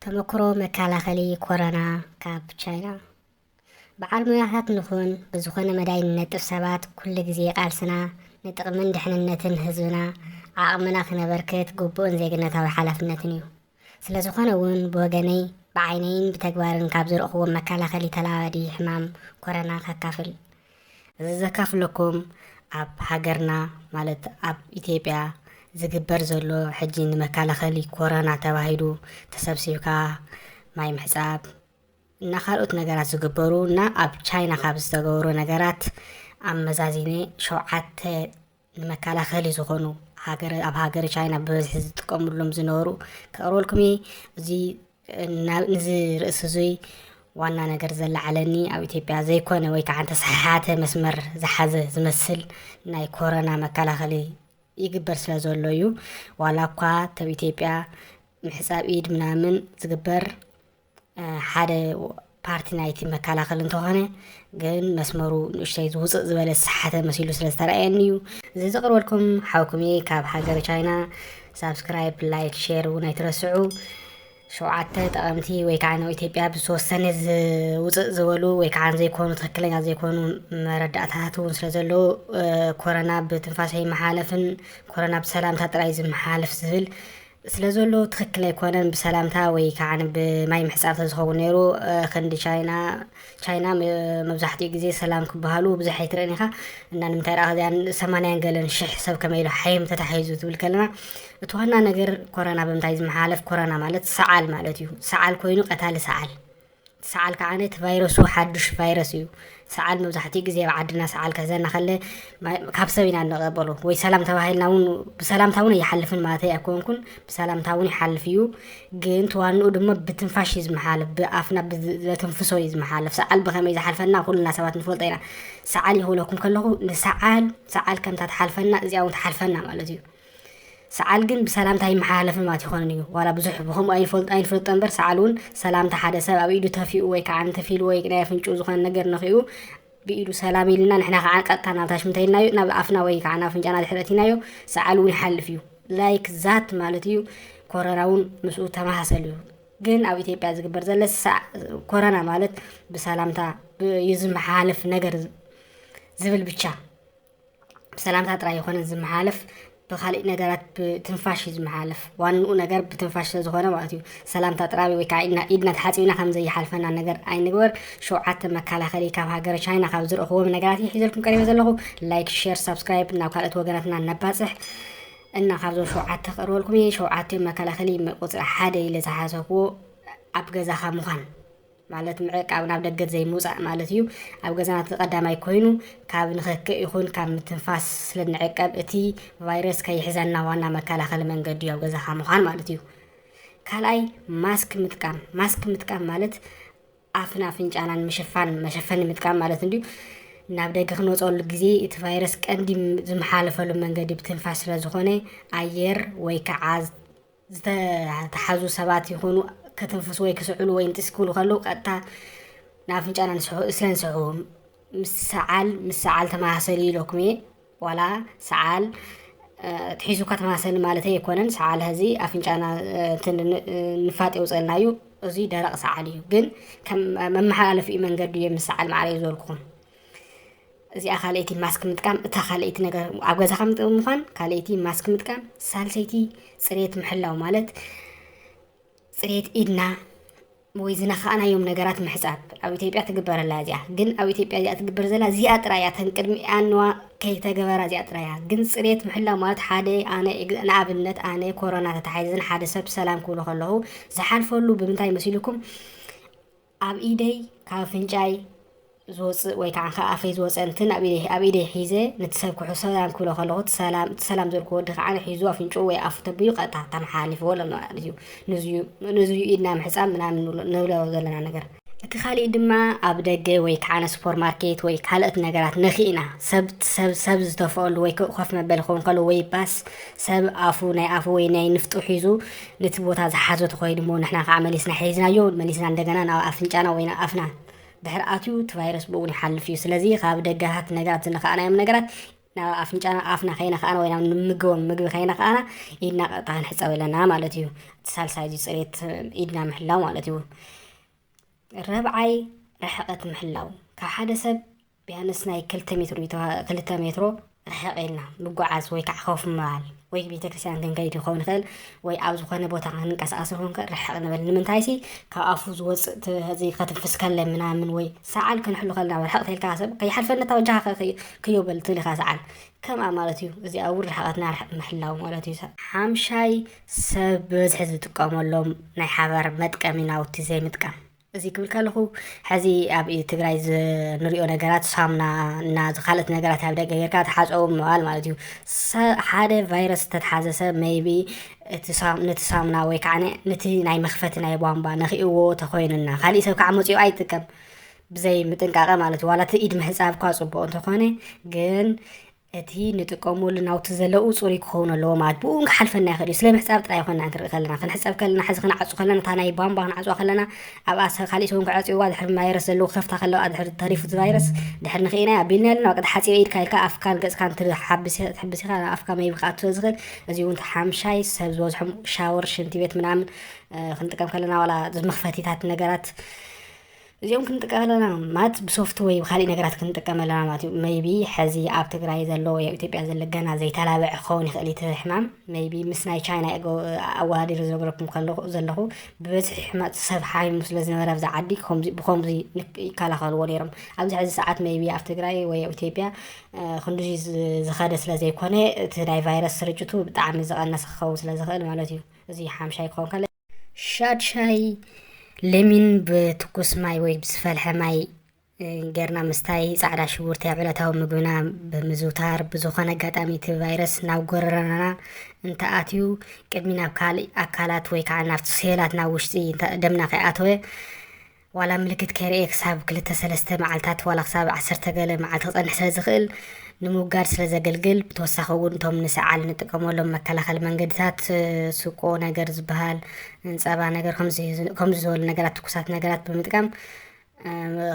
ተመክሮ መከላኸሊ ኮሮና ካብ ቻይና። በዓል ሞያታት ንኹን፣ ብዝኾነ መዳይ ንነጥፍ ሰባት፣ ኩሉ ግዜ ቃልስና ንጥቕምን ድሕንነትን ህዝብና ዓቕምና ክነበርክት ግቡእን ዜግነታዊ ሓላፍነትን እዩ። ስለዝኾነ እውን ብወገነይ ብዓይነይን ብተግባርን ካብ ዝረእኹዎም መከላኸሊ ተላባዲ ሕማም ኮሮና ከካፍል ዘካፍለኩም ኣብ ሃገርና ማለት ኣብ ኢትዮጵያ ዝግበር ዘሎ ሕጂ ንመከላኸሊ ኮረና ተባሂሉ ተሰብሲብካ ማይ ምሕፃብ እና ካልኦት ነገራት ዝግበሩ እና ኣብ ቻይና ካብ ዝተገብሩ ነገራት ኣመዛዚነ ሸውዓተ ንመከላኸሊ ዝኾኑ ሃገረ ኣብ ሃገረ ቻይና ብበዝሒ ዝጥቀምሎም ዝነበሩ ከቕርበልኩም እየ እዚ ናብ- ንዚ ርእሲ እዙይ ዋና ነገር ዘለዓለኒ ኣብ ኢትዮጵያ ዘይኮነ ወይ ከዓ ተሰሓሓተ መስመር ዝሓዘ ዝመስል ናይ ኮረና መከላኸሊ ይግበር ስለ ዘሎ እዩ ዋላ እኳ ተብ ኢትዮጵያ ምሕፃብ ኢድ ምናምን ዝግበር ሓደ ፓርቲ ናይቲ መከላኸሊ እንተኾነ ግን መስመሩ ንእሽተይ ዝውፅእ ዝበለ ዝሰሓተ መሲሉ ስለ ዝተረኣየኒ እዩ እዚ ዘቕርበልኩም ሓውኩም እየ ካብ ሃገረ ቻይና ሳብስክራይብ ላይክ ሼር እውን ኣይትረስዑ ሸውዓተ ጠቐምቲ ወይ ከዓ ናብ ኢትዮጵያ ብዝተወሰነ ዝውፅእ ዝበሉ ወይ ከዓ ዘይኮኑ ትክክለኛ ዘይኮኑ መረዳእታታት እውን ስለ ዘለዉ ኮረና ብትንፋሰ ይመሓለፍን ኮረና ብሰላምታ ጥራይ ዝመሓለፍ ዝብል ስለዘሉ ትክክል ኣይኮነን ብሰላምታ ወይ ከዓኒ ብማይ ምሕጻብ ተዝኸውን ነይሩ ክንዲ ቻይና ቻይና መብዛሕትኡ ግዜ ሰላም ክበሃሉ ብዙሕ ኣይትርእን ኢኻ እና ንምንታይ ደኣ ከዚኣን ሰማንያን ገለን ሽሕ ሰብ ከመይ ኢሉ ሓይም ተታሒዙ ትብል ከለና እቲ ዋና ነገር ኮረና ብምንታይ ዝመሓላለፍ ኮረና ማለት ሰዓል ማለት እዩ ሰዓል ኮይኑ ቀታሊ ሰዓል ሰዓል ከኣ እቲ ቫይረሱ ሓዱሽ ቫይረስ እዩ። ሰዓል መብዛሕትኡ ግዜ ኣብ ዓድና ሰዓል ክሕዘና ከለ ካብ ሰብ ኢና እንቐበሎ ወይ ሰላም ተባሂልና እውን ብሰላምታ እውን ኣይሓልፍን ማለተይ ኣይኮንኩን ብሰላምታ እውን ይሓልፍ እዩ ግን ተዋንኡ ድማ ብትንፋሽ እዩ ዝመሓለፍ ብኣፍና ብዘተንፍሶ እዩ ዝመሓለፍ ሰዓል ብኸመይ ዝሓልፈና ኩልና ሰባት ንፈልጦ ኢና ሰዓል ይኽብለኩም ከለኹ ንሰዓል ሰዓል ከምታ ትሓልፈና እዚኣ እውን ትሓልፈና ማለት እዩ ሰዓል ግን ብሰላምታ ኣይመሓላለፍን ማለት ኣይኮነን እዩ ዋላ ብዙሕ ብከምኡ ኣይንፈልጦ ኣይንፈልጦ እምበር ሰዓል እውን ሰላምታ ሓደ ሰብ ኣብ ኢዱ ተፊኡ ወይ ከዓ እንተፊሉ ወይ ናይ ኣፍንጭኡ ዝኾነ ነገር ነኺኡ ብኢዱ ሰላም ኢልና ንሕና ከዓ ቀጥታ ናብ ታሽ እንታይ ኢልናዮ ናብ ኣፍና ወይ ከዓ ናብ ኣፍንጫና ድሕሪ እቲናዮ ሰዓል እውን ይሓልፍ እዩ ላይክ ዛት ማለት እዩ ኮረና እውን ምስኡ ተመሳሰሉ እዩ ግን ኣብ ኢትዮጵያ ዝግበር ዘለ ኮረና ማለት ብሰላምታ ይዝመሓላለፍ ነገር ዝብል ብቻ ብሰላምታ ጥራይ ኣይኾነን ዝመሓለፍ ብካሊእ ነገራት ብትንፋሽ እዩ ዝመሓለፍ ዋንኡ ነገር ብትንፋሽ ስለዝኾነ ማለት እዩ ሰላምታ ጥራይ ወይ ከዓ ኢድና ኢድና ተሓፂብና ከም ዘይሓልፈና ነገር ኣይንግበር ሸውዓተ መከላኸሊ ካብ ሃገረ ቻይና ካብ ዝረኽቦም ነገራት እዩ ሒዘልኩም ቀሪበ ዘለኹ ላይክ ሼር ሳብስክራይብ ናብ ካልኦት ወገናትና ነባፅሕ እና ካብዞም ሸውዓተ ክቕርበልኩም እየ ሸውዓተ መከላኸሊ ቁፅሪ ሓደ ኢለ ዝሓሰብዎ ኣብ ገዛኻ ምዃን ማለት ምዕቃብ ናብ ደገት ዘይምውፃእ ማለት እዩ። ኣብ ገዛና እቲ ቀዳማይ ኮይኑ ካብ ንኸክእ ይኹን ካብ ምትንፋስ ስለ ንዕቀብ እቲ ቫይረስ ከይሕዘና ዋና መከላኸሊ መንገዲ እዩ ኣብ ገዛኻ ምዃን ማለት እዩ። ካልኣይ ማስክ ምጥቃም ማስክ ምጥቃም ማለት ኣፍን ኣፍንጫናን ምሽፋን መሸፈኒ ምጥቃም ማለት እንድዩ ናብ ደገ ክንወፀሉ ግዜ እቲ ቫይረስ ቀንዲ ዝመሓለፈሉ መንገዲ ብትንፋስ ስለ ዝኾነ ኣየር ወይ ከዓ ዝተታሓዙ ሰባት ይኹኑ ከትንፍሱ ወይ ክስዕሉ ወይ ንጢስ ክብሉ ከለዉ ቀጥታ ንኣፍንጫና ንስሕቦ እሰን ስሕቡ ምስ ሰዓል ምስ ሰዓል ተመሳሰሊ ኢለኩም እየ ዋላ ሰዓል ትሒዙካ ተመሳሰሊ ማለተይ ኣይኮነን ሰዓል ሀዚ ኣፍንጫና ንፋጥ የውፀልና እዩ እዙይ ደረቕ ሰዓል እዩ ግን ከም መመሓላለፊኡ መንገዱ እየ ምስ ሰዓል ማዕረ እዩ ዝበልኩኹም እዚኣ ካልኣይቲ ማስክ ምጥቃም እታ ካልኣይቲ ነገር ኣብ ገዛኻ ምዃን ካልኣይቲ ማስክ ምጥቃም ሳልሰይቲ ፅሬት ምሕላው ማለት ፅሬት ኢድና ወይ ዝነኻእናዮም ነገራት ምሕፃብ ኣብ ኢትዮጵያ ትግበር ኣላ እዚኣ ግን ኣብ ኢትዮጵያ እዚኣ ትግበር ዘላ እዚኣ ጥራይ እያ ተን ቅድሚ ኣንዋ ከይተገበራ እዚኣ ጥራይ እያ ግን ፅሬት ምሕላው ማለት ሓደ ኣነ ንኣብነት ኣነ ኮሮና ተታሓይዘን ሓደ ሰብ ሰላም ክብሎ ከለኹ ዝሓልፈሉ ብምንታይ መሲልኩም ኣብ ኢደይ ካብ ኣፍንጫይ ዝወጽእ ወይ ከዓ ካብ ኣፈይ ዝወጸ እንትን ኣብ ኢደይ ኣብ ኢደይ ሒዘ ነቲ ሰብ ክሑ ሰላም ክብሎ ከለኹ እቲ ሰላም እቲ ሰላም ዘልኩ ወዲ ከዓ ሒዙ ኣፍንጭኡ ወይ ኣፉ ተቢሉ ቀጥታ ተመሓላሊፍዎ ኣሎ ማለት እዩ ንዝዩ ንዝዩ ኢድና ምሕጻብ ምናምን ንብሎ ዘለና ነገር እቲ ካሊእ ድማ ኣብ ደገ ወይ ከዓ ነ ሱፐር ማርኬት ወይ ካልኦት ነገራት ነኪእና ሰብ ሰብ ሰብ ዝተፈኣሉ ወይ ኮፍ መበሊ ክኸውን ከሎ ወይ ባስ ሰብ ኣፉ ናይ ኣፉ ወይ ናይ ንፍጡ ሒዙ ነቲ ቦታ ዝሓዞ ተኾይኑ እሞ ንሕና ከኣ መሊስና ሒዝናዮ መሊስና እንደገና ናብ ኣፍንጫና ወይ ናብ ኣፍና ድሕሪ ኣትዩ እቲ ቫይረስ ብእውን ይሓልፍ እዩ ስለዚ ካብ ደገታት ነገራት ዝነኸኣናዮም ነገራት ናብ ኣፍንጫና ኣፍና ከይነኸኣና ወይ ናብ ንምገቦም ምግቢ ከይነኸኣና ኢድና ቀጥታ ክንሕፀብ ኣለና ማለት እዩ እቲ ሳልሳይ እዚ ፅሬት ኢድና ምሕላው ማለት እዩ ረብዓይ ርሕቐት ምሕላው ካብ ሓደ ሰብ ቢያንስ ናይ ክልተ ሜትሮ ክልተ ሜትሮ ርሕቕ ኢልና ምጓዓዝ ወይ ከዓ ኮፍ ምባል ወይ ቤተክርስትያን ክንከይድ ይኸውን ይኽእል ወይ ኣብ ዝኾነ ቦታ ክንንቀሳቐስ ይኸውን ይኽእል ርሕቕ ንበል ንምንታይሲ ካብ ኣፉ ዝወፅእ ከትንፍስ ከለ ምናምን ወይ ሰዓል ክንሕሉ ከለና ርሕቕ ተልካ ሰብ ከይሓልፈኒ እታ ወጃኻ ክዮ በል ትብል ኢኻ ሰዓል ከምኣ ማለት እዩ እዚኣ እውን ርሕቐትና ርሕቕ ምሕላው ማለት እዩ ሓምሻይ ሰብ ብብዝሒ ዝጥቀመሎም ናይ ሓባር መጥቀሚ ናውቲ ዘይምጥቃም እዚ ክብል ከለኹ ሐዚ ኣብ ትግራይ ዝንሪኦ ነገራት ሳምና እና ዝካልእት ነገራት ኣብ ደገ ጌርካ ተሓፀቡ ምባል ማለት እዩ ሓደ ቫይረስ ዝተትሓዘ ሰብ መይቢ ነቲ ሳምና ወይ ከዓ ነቲ ናይ መክፈቲ ናይ ቧንቧ ነኪእዎ ተኮይኑና ካሊእ ሰብ ከዓ መፅኡ ኣይጥቀም ብዘይ ምጥንቃቐ ማለት ዋላ እቲ ኢድ ምሕፃብ እኳ ፅቡቅ እንተኾነ ግን እቲ ንጥቀመሉ ናውቲ ዘለኡ ጽሩይ ክኸውን ኣለዎ ማለት ብኡ እውን ክሓልፈና ይኽእል እዩ ስለ ምሕጻብ ጥራይ ይኮና ክንርኢ ከለና ክንሕጸብ ከለና ሕዚ ክንዓጹ ከለና እታ ናይ ቧንቧ ክንዓጽዋ ከለና ኣብኣ ካሊእ ሰውን ክዐጽውዋ ድሕሪ ቫይረስ ዘለዎ ከፍታ ከለዋ ድሕሪ ተሪፉ እቲ ቫይረስ ድሕሪ ንክኢና ኢና ቢልና ኣለና ቅድ ሓጺበ ኢድካ ኢልካ ኣፍካን ገጽካን ትሕብስ ኢኻ ኣፍካ መይቢ ክኣቱ ስለ ዝኽእል እዚ እውን ሓምሻይ ሰብ ዝበዝሖም ሻወር ሽንቲ ቤት ምናምን ክንጥቀም ከለና ዋላ መኽፈቲታት ነገራት እዚኦም ክንጥቀም ኣለና ማለት ብሶፍት ወይ ብካሊእ ነገራት ክንጥቀም ኣለና ማለት እዩ መይቢ ሕዚ ኣብ ትግራይ ዘሎ ወይ ኣብ ኢትዮጵያ ዘሎ ገና ዘይተላበዐ ክኸውን ይኽእል እቲ ሕማም መይቢ ምስ ናይ ቻይና ኣወዳዲሩ ዝነገረኩም ከለኹ ዘለኹ ብበዝሒ ሕማፅ ሰብ ሓሚሙ ስለ ዝነበረ ኣብዛ ዓዲ ብከምዚ ይከላኸልዎ ነይሮም ኣብዚ ሕዚ ሰዓት መይቢ ኣብ ትግራይ ወይ ኣብ ኢትዮጵያ ክንዲ ዝኸደ ስለ ዘይኮነ እቲ ናይ ቫይረስ ስርጭቱ ብጣዕሚ ዝቐነሰ ክኸውን ስለ ዝኽእል ማለት እዩ እዚ ሓምሻይ ክኸውን ከለ ሻድ ሻሂ ለሚን ብትኩስ ማይ ወይ ብዝፈልሐ ማይ ጌርና ምስታይ ፃዕዳ ሽጉርቲ ኣብ ዕለታዊ ምግብና ብምዝውታር ብዝኾነ ኣጋጣሚ እቲ ቫይረስ ናብ ጎረረና እንተኣትዩ ቅድሚ ናብ ካልእ ኣካላት ወይ ከዓ ናብቲ ሴላት ናብ ውሽጢ ደምና ከይኣተወ ዋላ ምልክት ከይረእየ ክሳብ ክልተ ሰለስተ መዓልታት ዋላ ክሳብ ዓሰርተ ገለ መዓልቲ ክጸንሕ ስለ ዝኽእል ንምውጋድ ስለ ዘገልግል ብተወሳኺ እውን እቶም ንሰዓል ንጥቀመሎም መከላኸሊ መንገድታት ስቆ ነገር ዝበሃል ጸባ ነገር ከምዚ ዝበሉ ነገራት ትኩሳት ነገራት ብምጥቃም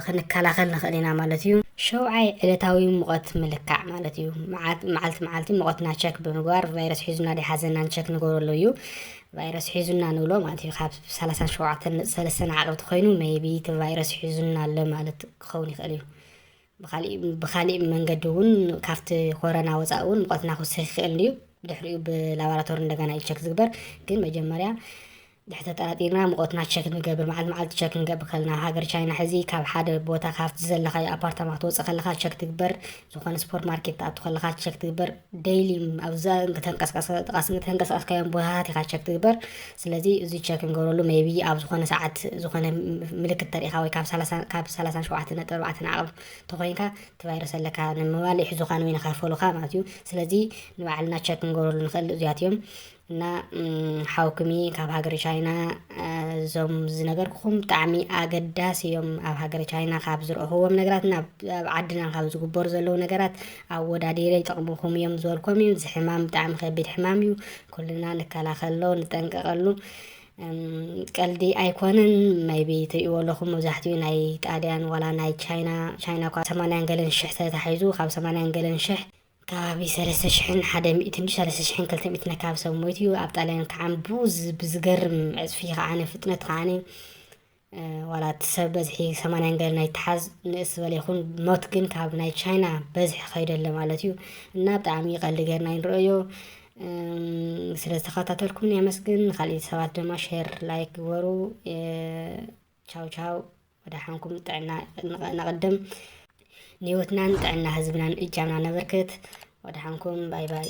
ክንከላኸል ንኽእል ኢና ማለት እዩ ሸውዓይ ዕለታዊ ሙቐት ምልካዕ ማለት እዩ መዓልቲ መዓልቲ ሙቐትና ቸክ ብምግባር ቫይረስ ሒዙና ዶ ሓዘናን ቸክ ንገብረሉ እዩ ቫይረስ ሒዙና ንብሎ ማለት እዩ ካብ ሰላሳን ሸውዓተን ነጥቢ ሰለስተ ንዓቕብ ተኮይኑ መይቢ እቲ ቫይረስ ሒዙና ኣሎ ማለት ክኸውን ይኽእል እዩ ብካሊእ መንገዲ እውን ካብቲ ኮረና ወፃኢ እውን ሙቐትና ክውስኽ ይኽእል እዩ ድሕሪኡ ብላቦራቶሪ እንደገና እዩ ቸክ ዝግበር ግን መጀመርያ ድሕሪ ተጠራጢርና ሙቐትና ቸክ ንገብር መዓልቲ መዓልቲ ቸክ ንገብር ከለና ሃገር ቻይና ሕዚ ካብ ሓደ ቦታ ካብቲ ዘለካዮ ኣፓርታማ ክትወፅእ ከለካ ቸክ ትግበር ዝኾነ ስፖር ማርኬት ትኣቱ ከለኻ ቸክ ትግበር ደይሊ ኣብዛ ተንቀሳቀስካዮም ቦታታት ኢኻ ቸክ ትግበር ስለዚ እዚ ቸክ ንገብረሉ ሜቢ ኣብ ዝኾነ ሰዓት ዝኾነ ምልክት ተሪኢኻ ወይ ካብ ካብ ሰላሳ ሸውዓተ ነጥቢ ኣርባዕተ ንዓቕብ ተኮይንካ እቲ ቫይረስ ኣለካ ንምባል ይሕዙኻን ወይ ንኸፈሉኻ ማለት እዩ ስለዚ ንባዕልና ቸክ ንገብረሉ ንኽእል እዚያት እዮም እና ሓውክሚ ካብ ሃገረ ቻይና እዞም ዝነገርኩኹም ብጣዕሚ ኣገዳሲ እዮም ኣብ ሃገረ ቻይና ካብ ዝረእኽዎም ነገራት ናብ ኣብ ዓድና ካብ ዝግበሩ ዘለዉ ነገራት ኣወዳዲረ ይጠቕምኹም እዮም ዝበልኮም እዩ እዚ ሕማም ብጣዕሚ ከቢድ ሕማም እዩ ኩልና ንከላኸሎ ንጠንቀቐሉ ቀልዲ ኣይኮነን መይቢ ትሪእዎ ኣለኹም መብዛሕትኡ ናይ ጣልያን ዋላ ናይ ቻይና ቻይና እኳ ሰማንያን ገለን ሽሕ ተታሒዙ ካብ ሰማንያን ገለን ሽሕ ከባቢ ሰለስተ ሽሕን ሓደ ሚእትን ሰለስተ ሽሕን ክልተ ሚእትን ኣከባቢ ሰብ ሞይቱ እዩ ኣብ ጣልያን ከዓን ብዝገርም ዕፅፊ ከዓነ ፍጥነት ከዓነ ዋላ እቲ ሰብ በዝሒ ሰማንያን ገለ ናይ ተሓዝ ንእስ ዝበለ ይኹን ሞት ግን ካብ ናይ ቻይና በዝሒ ከይደ ኣሎ ማለት እዩ እና ብጣዕሚ ቀልዲ ገርና ይንረዮ ስለ ዝተኸታተልኩም የመስግን። ንካልእ ሰባት ድማ ሼር ላይክ ግበሩ። ቻው ቻው ወደሓንኩም ጥዕና ነቐድም ንህይወትናን ጥዕና ህዝብናን እጃምና ነበርክት ወደሓንኩም ባይ ባይ